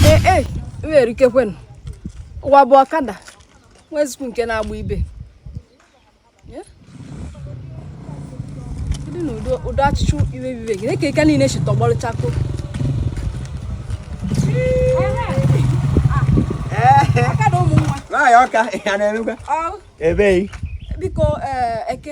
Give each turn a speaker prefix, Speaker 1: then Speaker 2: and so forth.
Speaker 1: ee e, nwere ike kwenụ ụwa bụ ọkada nwezikwu nke na-agba ibe dị na ụdọ achịcha iwe bibe gị na-eke ike niile si tọgbọrọ chakoo ọkada
Speaker 2: ụmụ nwa nwaanyị Ọka ya na-emekwa ebee biko
Speaker 1: eh, eke